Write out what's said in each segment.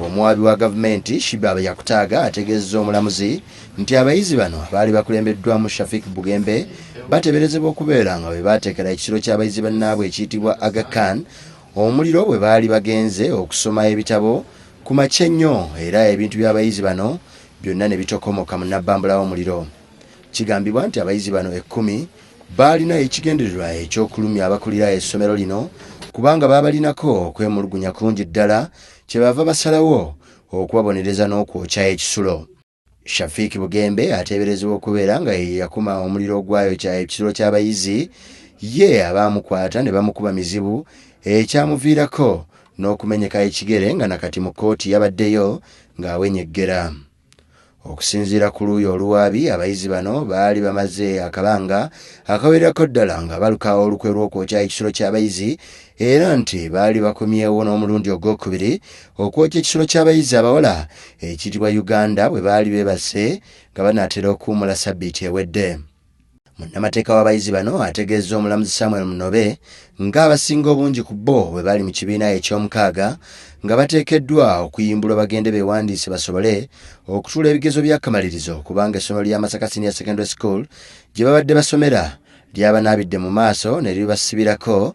Omuwaabi wa gavumenti Shibaba Yakutaaga ategeezezza omulamuzi nti abayizi bano abaali bakulembeddwamu Shafik Bugembe bateeberezebwa okubeera nga bwe baateekera ekisulo ky'abayizi bannaabwe ekiyitibwa Aga Khan omuliro bwe baali bagenze okusoma ebitabo ku makya ennyo era ebintu by'abayizi bano byonna ne bitokomoka mu nnabbambula w'omuliro. Kigambibwa nti abayizi bano ekkumi baalina ekigendererwa eky'okulumya abakulira essomero lino kubanga baabalinako okwemulugunya kungi ddala kyebaava basalawo okubabonereza n'okwokya ekisulo. Shafiq Bugembe ateeberezebwa okubeera nga ye yakuma omuliro ogwayokya ekisulo ky'abayizi ye abaamukwata ne bamukuba mizibu ekyamuviirako n'okumenyeka ekigere nga nakati mu kkooti yabaddeyo ng'awenyeggera. Okusinziira ku luuyi oluwaabi, abayizi bano baali bamaze akabanga akawererako ddala nga baluka olukwe lw'okwokya ekisulo ky'abayizi era nti baali bakomyewo n'omulundi ogwokubiri okwokya ekisulo ky'abayizi abawala ekiyitibwa Uganda bwe baali beebase nga banaatera okuwummula sabbiiti ewedde. Munnamateeka w'abayizi bano ategeezza omulamuzi Samuel Munobe nga abasinga obungi ku bo bwe bali mu kibiina eky'omukaaga nga bateekeddwa okuyimbulwa bagende beewandiise basobole okutuula ebigezo by'akamalirizo kubanga essomero lya Masaka Senior Secondary School gye babadde basomera lyabanaabidde mu maaso ne libasibirako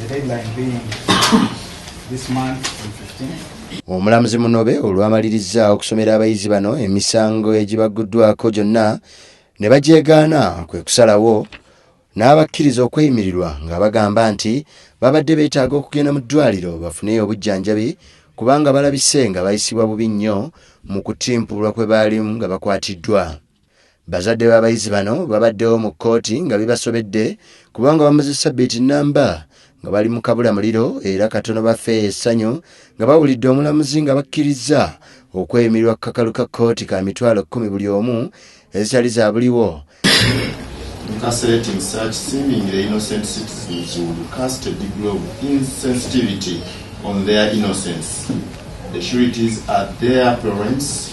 The deadline being this month on 15th. omulamuzi munobe olwamalirizza okusomera abayizi bano emisango egibagguddwako gyonna ne bagyegaana kwe kusalawo n'abakkiriza okweyimirirwa nga bagamba nti babadde beetaaga okugenda mu ddwaliro bafune obujjanjabi kubanga balabise nga bayisibwa bubi nnyo mu kutimpulwa kwe baalimu nga bakwatiddwa Bazadde b'abayizi bano babaddewo mu kkooti nga bibasobedde kubanga bamaze ssabbiiti nnamba nga bali mu kabula muliro era katono bafe essanyu nga bawulidde omulamuzi nga bakkirizza okweyimirirwa ku kakalu ka kkooti ka mitwalo kkumi buli omu ezitali za buliwo incarcerating such seemingly innocent citizens would cast a degree of insensitivity on their innocence. The sureties are their parents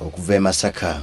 Okuva e Masaka.